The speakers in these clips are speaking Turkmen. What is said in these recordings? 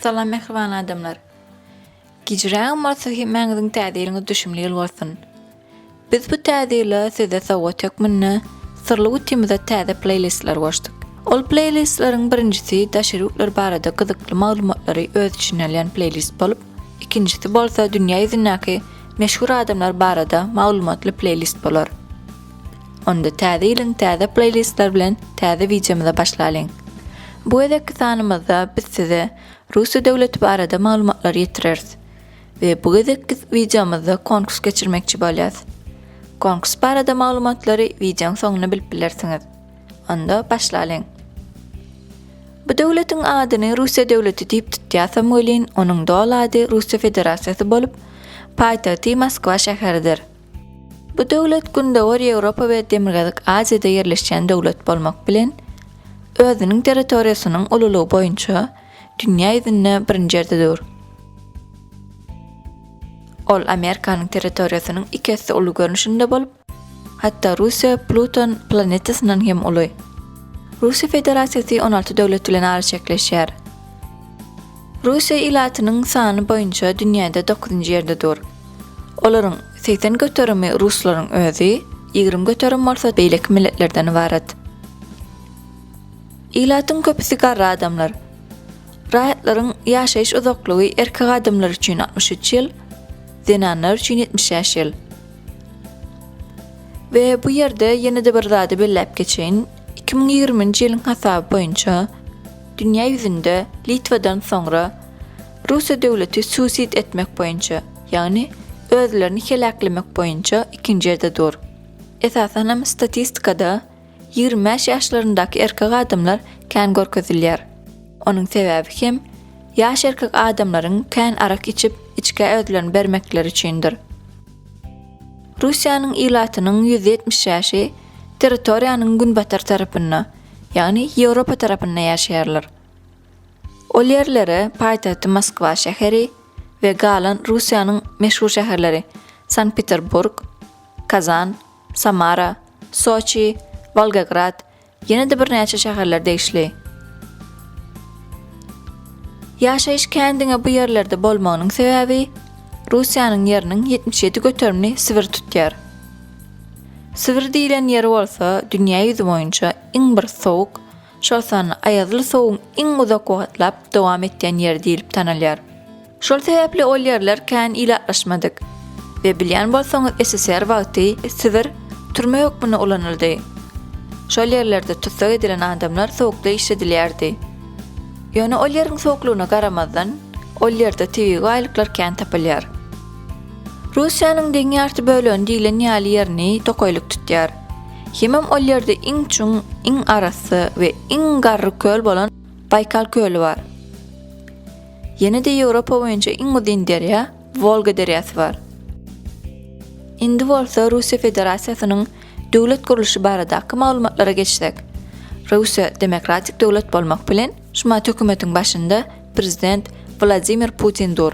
Salam mähriban adamlar. Gijrägem bolsa hemmäňiziň täze ýylyňyz düşümli ýyl bolsun. Biz bu täze ýyla size sowgat hökmünde Syrly gutymyza täze pleýlistler goşduk. Ol pleýlistleriň birinjisi daşary ýurtlar barada gyzykly maglumatlary öz içine alýan pleýlist bolup, ikinjisi bolsa dünýä ýüzündäki meşhur adamlar barada maglumatly pleýlist bolar. Onda täze ýylyň täze pleýlistler bilen täze wideomyza başlalyň. Bu gezekki sanymyzda biz size Russiýa döwleti barada maglumatlary ýetireris. We bu gezekki wideomyzda konkurs geçirmekçi bolýas. Konkurs barada maglumatlary wideoň soňunda bilip bilersiňiz. Onda başlalyň. Bu döwletiň adyny Russiýa döwleti diýip tutýasam welin onuň doly ady Russiýa Federasiýasy bolup, paýtagty Moskwa şäheridir. Bu döwlet Gündogar Ýewropa we Demirgazyk Aziýada ýerleşýän döwlet bolmak bilen, özüniň territoriýasynyň ululygy boýunça, dünýä ýüzünde birinji ýerde dur. Ol Amerikanyň territoriýasynyň iki esse uly görnüşinde bolup, hatda Russiýa Pluton planetasyndan hem uly. Russiýa Federasiýasy on alty döwlet bilen araçäkleşýär. Russiýa ilatynyň sany boýunça dünýäde dokuzynjy ýerde dur. Olaryň segsen göterimi ruslaryň özi, ýigrimi göterim bolsa beýleki milletlerden ybarat. Ilatyň köpüsi garry adamlar. Raýatlaryň ýaşaýyş uzaklygy erkek adamlar üçin altmyş üç ýyl, zenanlar üçin ýetmiş bäş ýyl. We bu ýerde ýene-de bir zady belläp geçeýin, iki müň ýigriminji ýylyň hasaby boýunça dünýä ýüzünde Litwadan soňra Russiýa döwleti suisid etmek boýunça, ýagny özlerini heläklemek boýunça ikinji ýerde dur. Esasanam statistikada Ýigrimi bäş ýaşlaryndaky erkek adamlar kän görkezilýär. Onuň sebäbi hem, ýaş erkek adamlaryň kän arak içip, içgä özlerini bermekleri üçindir. Russiýanyň ilatynyň ýüz ýetmiş bäşi territoriýanyň günbatar tarapynda, ýagny Ýewropa tarapynda ýaşaýarlar. Ol ýerlere paýtagty Moskwa şäheri we galan Russiýanyň meşhur şäherleri Sankt-Peterburg, Kazan, Samara, Soçi, Wolgograd, ýene-de birnäçe şäherler degişli. Ýaşaýyş kän diňe bu ýerlerde bolmagynyň sebäbi, Russiýanyň ýeriniň ýetmiş ýedi göterimini Sibir tutýar. Sibir diýlen ýer bolsa dünýä ýüzi boýunça iň bir sowuk, Şol sanda aýazly sowugyň iň uzak wagtlap dowam etýän ýeri diýlip tanalýar. Şol sebäpli ol ýerler kän ilatlaşmadyk. We bilýän bolsaňyz SSR wagty Sibir türme hökmünde ulanyldy. Şol ýerlerde tussag edilen adamlar sowukda işledilýärdi. Ýöne ol ýeriň sowuklygyna garamazdan, ol ýerde tebigy baýlyklar kän tapylýar. Russiýanyň deň ýarty bölegini diýlen ýaly ýerini tokaýlyk tutýar. Hemem ol ýerde iň çuň, iň arassa we iň garry köl bolan Baýkal köli bar. Ýene-de Ýewropa boýunça iň uzyn derýa Wolga derýasy bar. Indi bolsa Russiýa Federasiýasynyň döwlet gurluşy baradaky maglumatlara geçsek. Russiýa demokratik döwlet bolmak bilen, şumat hökümetiň başynda prezident Wladimir Putin dur.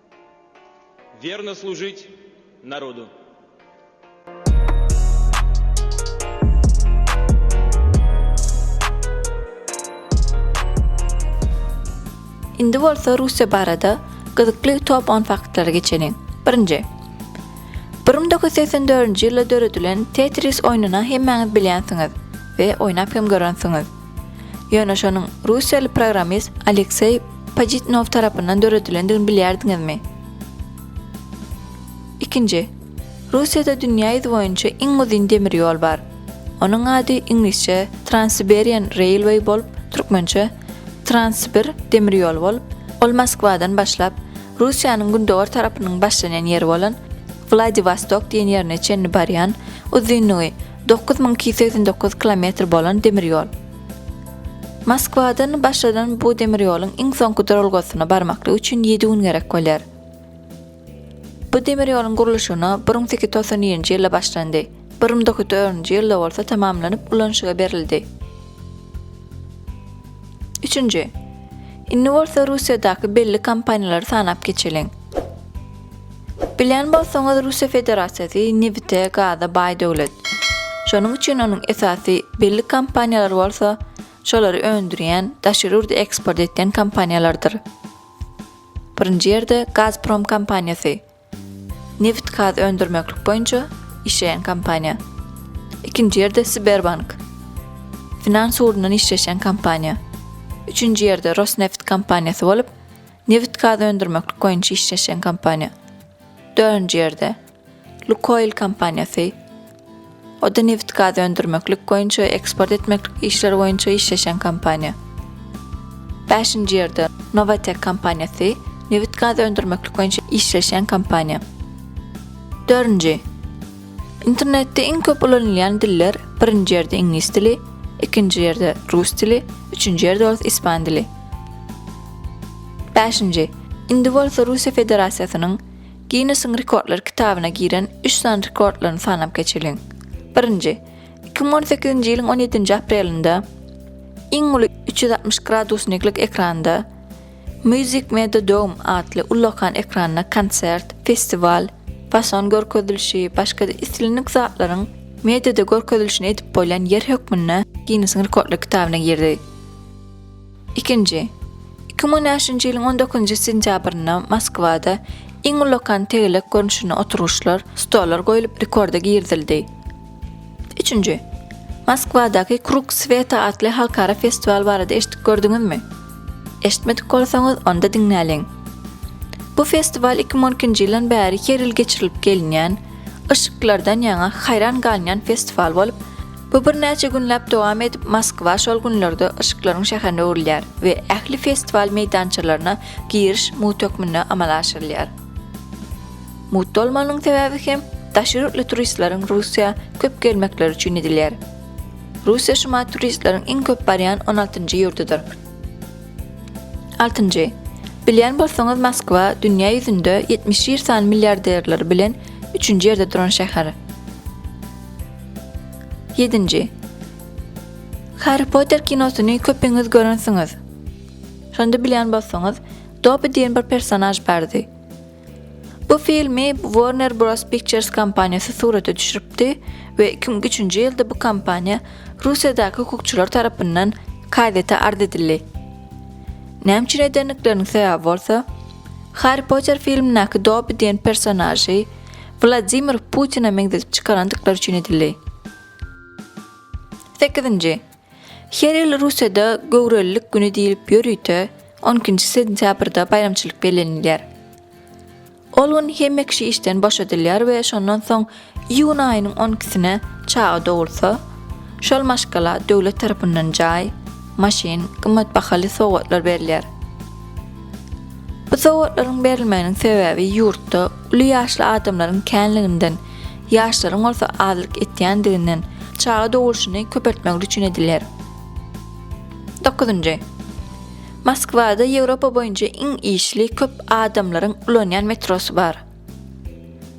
Werno služit narodu. Indi bolsa Russiýa barada gyzykly top on faktlara geçeliň. Birinji. Bir müň dokuz ýüz segsen dördünji ýylda döredilen Tetris oýnuny hemmäňiz bilýänsiňiz we oýnap hem görensiňiz. Ýöne şonuň russiýaly programmist Alekseý Pajitnow tarapyndan döredilendigini bilýärdiňizmi? Ikinji. Russiýada dünýä ýüzi boýunça iň uzyn demir ýol bar. Onuň ady iňlisçe Transsiberian Railway bolup, türkmençe Transsibir demir ýoly bolup, ol Moskwadan başlap, Russiýanyň gündogar tarapynyň başlanýan ýeri bolan Wladiwostok diýen ýerine çenli barýan, uzynlygy Dokuz müň iki ýüz segsen dokuz kilometr bolan demir ýol. Moskwadan başlanan bu demir ýoluň iň soňky duralgasyna barmaklyk üçin ýedi gün gerek bolýar. Bu demir ýoluň gurluşygyna bir müň sekiz ýüz togsan birinji ýylda başlandy, bir müň dokuz ýüz dördünji ýylda bolsa tamamlanyp ulanyşyga berildi. Üçünji. Indi bolsa Russiýadaky belli kompaniýalary sanap geçeliň. Bilýän bolsaňyz Russiýa Federasiýasy nebite, gaza baý döwlet. Şonuň üçin onuň esasy belli kompaniýalary bolsa şolary öndürýän, daşary ýurda eksport etýän kompaniýalardyr. Birinji ýerde Gazprom kompaniýasy. Nebit gaz öndürmeklik boýunça işleýän kompaniýa. Ikinji ýerde Sberbank. Finans ugrundan işleşýän kompaniýa. Üçünji ýerde Rosneft kompaniýasy bolup, Nebit-gaz öndürmeklik boýunça işleşýän kompaniýa. Dördünji ýerde, Lukoýl kompaniýasy. O-da nebit-gaz öndürmeklik boýunça we eksport etmeklik işleri boýunça işleşýän kompaniýa. Bäşinji ýerde, Nowatek kompaniýasy, nebit-gaz öndürmeklik boýunça işleşýän kompaniýa. Dördünji. Internetde iň köp ulanylýan diller birinji ýerde iňlis dili, ikinji ýerde rus dili, üçünji ýerde bolsa ispan dili. Bäşinji, indi bolsa Russiýa Federasiýasynyň Ginnesiň rekordlar kitabyna giren üç sany rekordlaryny sanap geçeliň. Birinji, iki müň on sekizinji ýylyň on ýedinji aprelinde iň uly üç ýüz altmyş gradusniklik ekranda, Music Made Dome atly ullakan ekranda konsert, festiwal, fason görkezilişi, başga-da islendik zatlaryň mediada görkezilişini edip bolýan ýer hökmünde Ginnesiň rekordlar kitabyna girdi. Ikinji. Iki müň on bäşinji ýylyň on dokuzynjy sentýabrynda Moskwada iň ullakan tegelek görnüşinde oturgyçlar, stollar goýlup rekorda girizildi. Üçünji. Moskwadaky Krug Sweta atly halkara festiwal barada eşitdik-gördüňizmi? Eşitmedik bolsaňyz, onda diňläliň. Bu festiwal iki müň on ikinji ýyldan bäri her ýyl geçirilip gelinýän, yşyklardan ýaňa haýran galynýan festiwal bolup, bu birnäçe günläp dowam edip, Moskwa şol günlerde yşyklaryň şäherine öwrülýär we ähli festiwal meýdançalaryna giriş mugt hökmünde amala aşyrylýar. Mugt bolmagynyň sebäbi hem daşary ýurtly turistleriň Russiýa köp gelmekleri üçin edilýär. Russiýa şu maý turistleriň iň köp barýan on altynjy ýurdudyr. Altynjy. Bilýän bolsaňyz Moskwa dünýä ýüzünde ýetmiş ir sany milliarderleri bilen üçünji ýerde duran şäher. Ýedinji. Harry Potter kinosyny köpiňiz görensiňiz. Şonda bilýän bolsaňyz Dobby diýen bir personaž bardy. Bu filmi Warner Bros. Pictures kompaniýasy surata düşüripdi we iki müň üçünji ýylda bu kompaniýa Russiýadaky hukukçylar tarapyndan KZ-e arz edildi. Näme üçin edendikleriniň sebäbi bolsa, Harri Potter filmindäki Dobbi diýen personažy Wladimir Putine meňzedip çykarandyklary üçin edildi. Sekizinji. Her ýyl Russiýada Göwrelilik güni diýlip ýörite on ikinji sentýabrda baýramçylyk bellenilýär. Ol gün hemme kişi işden boşadylýar we şondan soň iýun aýynyň on ikisine çaga dogulsa, şol maşgala döwlet tarapyndan jaý, maşyn, gymmat bahaly sowgatlar berilýär. Bu sowgatlaryň berilmeginiň sebäbi ýurtda Uly ýaşly adamlaryň känliginden, ýaşlaryň bolsa azlyk etýändiginden çaga dogulşyny köpeltmek ücin edilýär. Dokuzynjy. Moskwada Ýewropa boýunça iň işli köp adamlaryň ulanýan metrosy bar.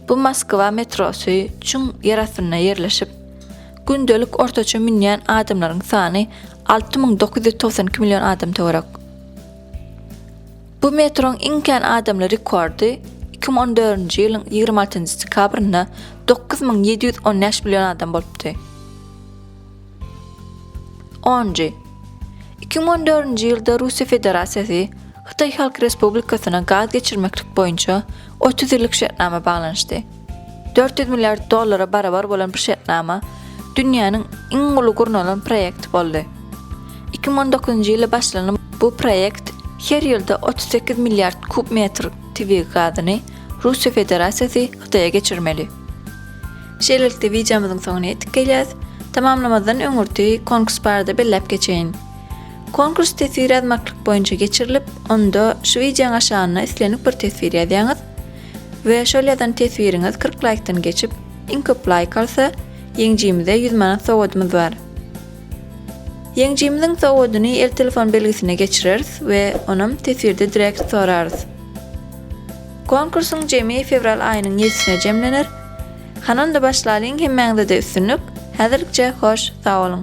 Bu Moskwa metrosy çuň ýer astynda ýerleşip, gündelik ortaça münýän adamlaryň sany alty müň dokuz ýüz togsan iki million adam töwerek. Bu metroň iň kän adamly rekordy iki müň on dördünji ýylyň ýigrimi altynjy dekabrynda dokuz müň ýedi ýüz on bäş million adam bolupdy. Onjy. Iki müň on dördünji ýylda Russiýa Federasiýasy Hytaý Halk Respublikasyna gaz geçirmeklik boýunça otuz ýyllyk şertnama baglanyşdy. Dört ýüz milliard dollara barabar bolan bu şertnama dünýäniň iň uly gurnalan proýekti boldy. Iki müň on dokuzynjy ýylda başlanan bu proýekt her ýylda otuz sekiz milliard kub metr tebigy gazyny Russiýa Federasiýasy Hytaýa geçirmeli. Şeýlelikde wideomyzyň soňuna ýetip gelýäs. Tamamlamazdan öňürti konkurs barada belläp geçeýin. Konkurs teswir ýazmaklyk boýunça geçirilip, onda şu wideoň aşagynda islendik bir teswir ýazýaňyz. We şol ýazan teswiriňiz kyrk laýkdan geçip iň köp laýk alsa ýeňjimize ýüz manat sowadymyz bar. Ýeňjimiziň sowadyny el telefon belgisine geçireris we onam teswirde direkt sorarys. Konkursyň jemi fewral aýynyň ýedisine jemlener. Hany onda başlalyň hemmäňizede üstünlik, häzirlikçe hoş sag boluň.